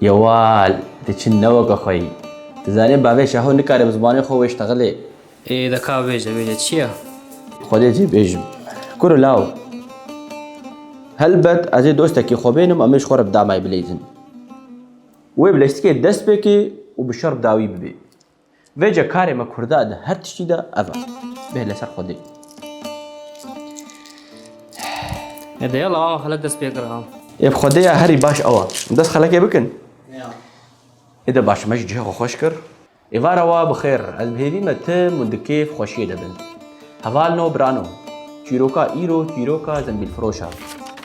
Yewal, diçin ne weke xwe yî. Tu zanî bavê Şaho nikare bi zimanê xwe wêj texilê. Ê de ka bêje, bêje çi ye? Xwedê cê bêjim. Kuro law. Helbet ez ê dostekî xwe bênim em ê ji xwe re bi damay bileyzin. Wê bi leştikê dest pê kê û bi şer bi dawî bibê. Vêce karê me kurda di her tiştî de ev e. Bê li ser xwedê. Ne deya la awa xelek dest pê kira. Ev xwedeya herî baş ew e. Dest xelekê bikin. Ê de baş me jî cihê xwe xweş kir. Êvara wa bi xêr. Ez bi hêvî me tim û di kêf xweşiyê de bin. Hevalno birano. Çîroka îro çîroka zembîlfiroş e.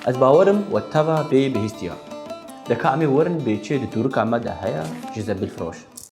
Ez bawer im we teva bê bihîstiya. De ka em ê werin bê çê di tûrika me de heye ji zembîlfiroş.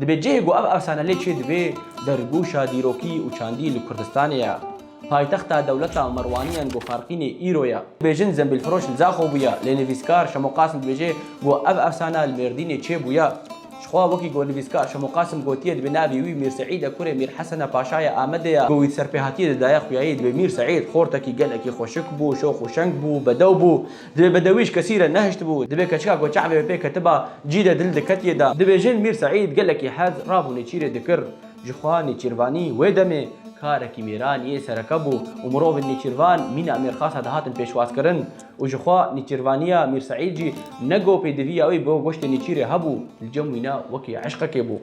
Dibê cihê ku ev efsane lê çêdibe dergûşa dîrokî û çandî li Kurdistanê ye. Paytexta dewleta Merwaniyan ku Farqînê îro ye. Dibêjin zembîlfiroş li Zaxo bûye, lê nivîskar Şemo Qasim dibêje ku ev efsane li Mêrdînê çêbûye. Jixwe wekî ku nivîskar Şemo Qasim gotiye dibê navê wî Mîr Seîd e kurê Mîr Hesene Paşayê Amedê ye. Ku wî di serpêhatiyê de daye xuyayî dibê Mîr Seîd xortekî gelekî xweşik bû, şox û şeng bû, bedew bû. Divê bedewî ji kesî re nehiştibû, divê keçika ku çavê wê pê ketiba cî de dil diketiye da. Dibêjin Mîr Seîd gelekî hez rabû nêçîrê dikir. Ji xwe nêçîrvanî wê demê karekî mêranî yê sereke bû û mirovên nêçîrvan mîna mêrxasa dihatin pêşwazkirin û ji xwe nêçîrvaniya Mîr Seîd jî ne go pêdiviya wî bo goştê nêçîrê hebû li cem wî ne wekî eşqekê bû.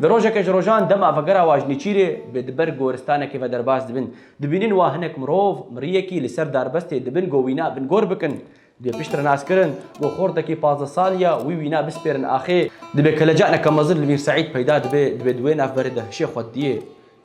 Di rojeke ji rojan dema vegera wan ji nêçîrê bi di ber goristanekê ve derbas dibin. Dibînin wa hinek mirov miriyekî li ser darbestê di bin go wîna bin gor bikin. Dibê piştre nas kirin go xortekî pazdeh salî ya wî wîna bispêrin axê. Dibê keleca neka mezin li Mîr Seîd peyda dibe, dibê di wê navberê de hişê xwe diyê.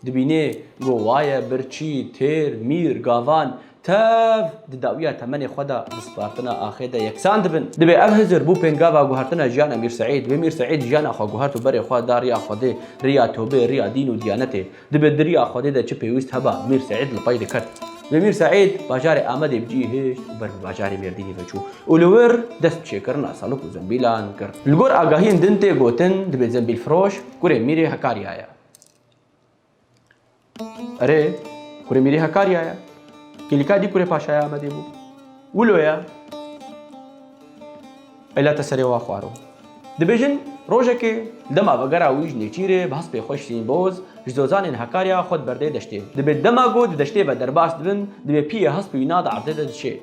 Dibînê go waye, birçî, têr, mîr, gavan, tev di dawiya temenê xwe de di spartina axê de yeksan dibin. Dibê ev hizir bû pêngava guhertina jiyana Mîr Seîd. Wê Mîr Seîd jiyana xwe guhert û berê xwe da riya Xwedê, riya tobê, riya dîn û diyanetê. Di bêdiriya Xwedê de çi pêwîst heba, Mîr Seîd li pey dikir. Lê Mîr Seîd bajarê Amedê bi cî hişt û ber bi bajarê Mêrdînê ve çû û li wir dest bi çêkirina salûk û zembîlan kir. Li gor agahiyên din tê gotin dibê zembîlfiroş kurê Mîrê Hekarya ye. Erê, kurê Mîrê Hekarya ye. Kêlîka dî kurê Paşaya Amedê bû. Wilo ye. Peyla te serê wa xwaro. Dibêjin rojekê li dema vegera wî ji Nêçîrê bi hespê xwe Şirîn Boz ji zozanên Hakarya xwe diberde deştê. Dibê dema ku di deştê ve derbas dibin dibê piyê hespê wî na di erdê de diçê.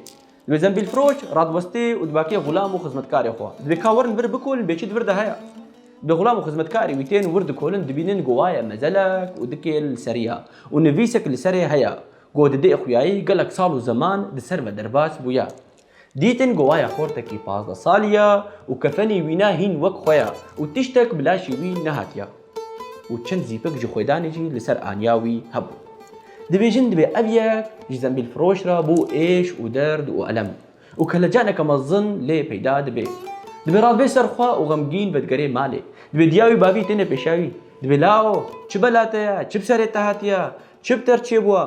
Dibê zembîlfiroş radwestê û dibakê xulam û xizmetkarê xwe. Dibê ka werin vir bikolin bê çi di vir de heye. Dibê xulam û xizmetkarê wî tên wir dikolin dibînin ku waye mezelek û dikê li serî ya û nivîsek li serê heye ku di dê xuyayî gelek sal û zeman di ser ve derbas bûye. Dîtin ku waya xortekî pazdeh salî ya û kefenî wî ne hîn wek xwe ya û tiştek bi laşî wî nehatiya û çend zîpik ji xwedanê jî li ser aniya wî hebû. Dibêjin divê ev yek ji zembîlfiroş re bo êş û derd û elem û kelecaneke mezin lê peyda dibe. Dibê rabê ser xwe û xemgîn vedigerê malê. Dibê diya wî bavî têne pêşa wî. Dibê lao, çi bela te ye, çi bi serê te hatiya, çi bi te re çêbûwa.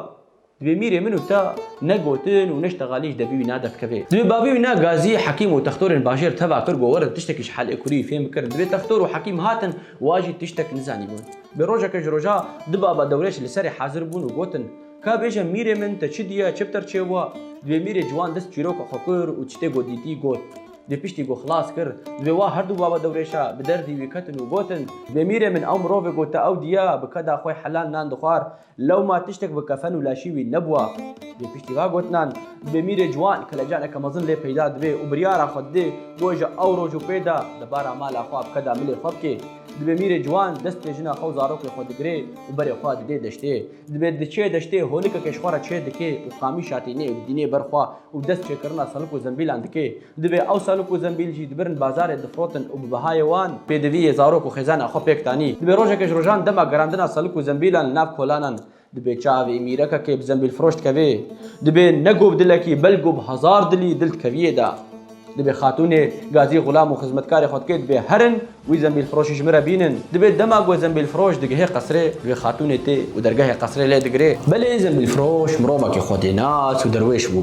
Divê mîrê min û te ne gotin û ne ji teqalê ji debî wî ne derkeve. Divê bavê wî ne gazî, hekîm û textorên bajêr teva kir ku werin tiştekî ji helê kurî fêm bikirin. Divê textor û hekîm hatin û a jî tiştek nizanîbûn. Bi rojeke ji roja du baba dewreç li serê hezir bûn û gotin, Ka bêje mîrê min te çi diye, çi bi te re çêbûa? Divê mîrê ciwan dest çîroka xwe kir û tiştê ku dîtî got. Divê piştî ku xilas kir, divê wa her du baba dewrêça bi derdî wî ketin û gotin, Divê mîrê min ew mirovê ku te ew diye, bi keda xwe helal nan dixwar, Lewma tiştek bi kefen û laşî wî nebûa. Lê piştî va gotinan, demîrê ciwan kelecaneke mezin lê peyda dibe û biryara xwe dide ku ji ew roj û pê de di bara mala xwe bi keda milê xwe bike. Dibe mîrê ciwan destê jina xwe û zarokê xwe digire û berê xwe dide deştê. Dibe diçe deştê holike keşxwe re çê dike û qamîşatê nê û dînê ber xwe û dest çêkirina selik û zembîlan dike. Divê ew salûk û zembîl jî dibirin bazarê difrotin û bi bihayê wan, pêdiviyê zarok û xêzana xwe pêk danî, dibê rojeke ji rojan dema gerandina salûk û zembîlan li nav kolanan dibê çavê mîrekekê bi zembîlfiroş dikevê, dibê ne go bi dilekî belgo bi hezar dilî dil dikeviyê da. Dibê xatûnê gazî xulam û xizmetkarê xwe dikê dibê herin wî zembîlfiroşî ji min re bînin. Dibê dema go zembîlfiroş digihê qesirê wê xatûnê tê û dergehê qesirê lê digirê. Belê zembîlfiroş mirovekî xwedênas û derwêş bû.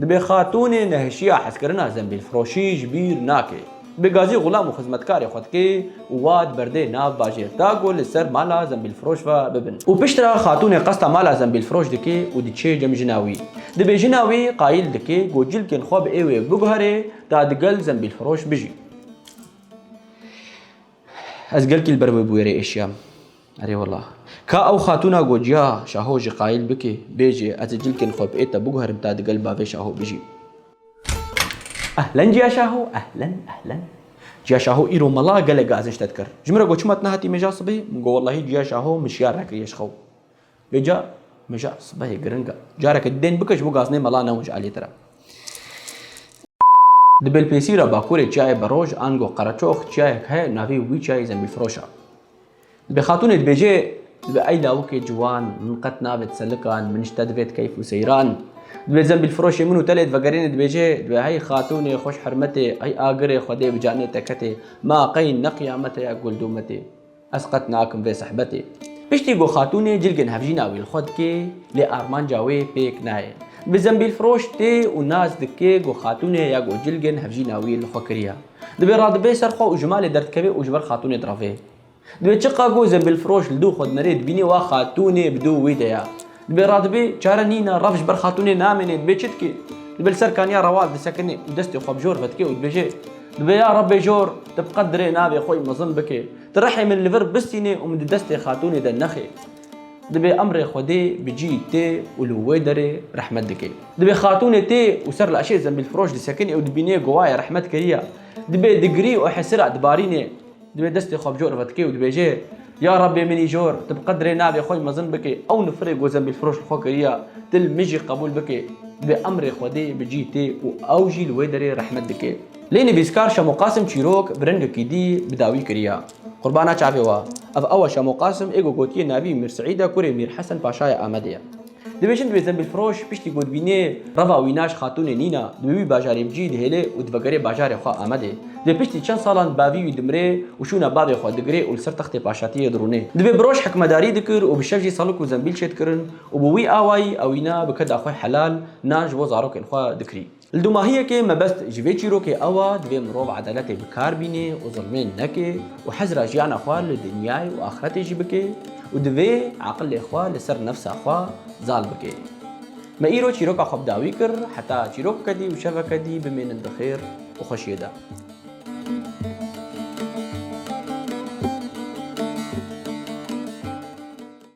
Dibe xatûnê nehişiya hezkirina zembîlfiroşî ji bîr nake. Bi gazî xulam û xizmetkarê xwe dike û wa di berdê nav bajêr da ku li ser mala zembîlfiroş ve bibin. Û piştre xatûnê qesta mala zembîlfiroş dike û diçe cem jina wî. Dibe jina wî qayîl dike ku cilkên xwe bi êwê biguherê ta digel zembîlfiroş bijî. Ez gelkî li ber wê bûyerê êşiyam. Erê wela. Ka ew xatûna got, Ya, şaho jî qayîl bike, bêje, ez ê cilkên xwe bi êta biguherim ta digel bavê şaho bijîm. Ehlen Ciya Şaho, ehlen, ehlen. Ciya Şaho îro mala gelek gazinç te dikir. Ji min re got, Çima tu nehatî mêja sibê? Min got, Wellahî Ciya Şaho min şiyar nekiriye ji xew. Vê ca mija sibehê giring e. Careke dên bike ji bo gaznê mela newij aliyê te re. Di Belpêsîra Bakurê çiyayê Beroj, ango Qereçox, çiyayek heye navê wî çiyayê Zembîlfiroş e. Divê xatûnê dibêje Divê ey lawikê ciwan, min qet navêt selikan, min ji te divêt keyf û seyran. Divê Zembîlfiroşê min û te lê divegerîne dibêje Divê hey xatûnê xweş hermetê, hey agirê xwedê bi canê te ketê, ma qey ne qiyamet heye gul dûmetê. Ez qet nakim vê sehbetê. Piştî ku xatûnê cilgên hevjîna wî li xwe dike, lê armanca wê pêk nayê. Bi zembîlfiroş tê û nas dike ku xatûnê ya ku cilgên hevjîna wî li xwe kiriya. Divê radibe ser xwe û ji malê derdikeve û ji ber xatûnê direve. Divê çiqas ku zembîlfiroş li dû xwe dinere dibîne wa xatûnê bi dû wî de ya. Dibê radibê çare nîn e, rev ji ber xatûnê namêne, dibê çi dike? Dibê li ser kaniya rewal disekine û destê xwe bi jor vedike û dibêje, Dibê ya Rebê jor, tu bi qet dirê navê xwe yî mezin bikî. Tu rihê min li vir bistînî û min di destê xatûnê de nexî. Dibê emrê Xwedê bi cî tê û li wê derê rehmet dike. Dibê xatûnê tê û ser li eşê zembîlfiroş disekine û dibîne gowaye rehmet kiriye. Dibê digirî û hesira dibarîne. Divê destê xwe bi cor ve dikê û dibêjê, Ya Rabbê min îcor, tu bi qedrê navê xwe yê mezin bikê, ew nifirê ku zembîlfiroş li xwe kiriye, tu li min jî qebûl bikê. Divê emrê Xwedê bi cî tê û ew jî li wê derê rehmet dikê. Lê nivîskar Şemo Qasim çîrok bi rengekî dî bi dawî kiriye. Qurbana çavê we. Ev ew e Şemo Qasim ê ku gotiye navî Mîr Seîd e, kurê Mîr Hesen Paşaya Amedê ye. Dibêjin divê zembilfiroş piştî godbînê reva wînaş xatûnê Nîna di wî bajarê bicî dihêlê û divegere bajarê xwe Amedê. Divê piştî çend salan bavî wî dimirê û şûna bavê xwe digirê û li ser textê paşatiyê dirûnê. Divê bi roj hikmedarî dikir û bi şev jî salik û zembil çêdikirin û bi wî awayî ewîna bi keda xwe helal nan ji bo zarokên xwe dikirî. Li dûmahiyekê mebest ji vê çîrokê ew a divê mirov edaletê bi kar bînê û zilmên neke û hezira jiyana xwe li dinyayê û axretê jî bike û divê eqilê xwe li ser nefsa xwe zal bike. Me îro çîroka xwe bi dawî kir heta çîrokeke dî û şeveke dî bimênin di xêr û xweşiyê de.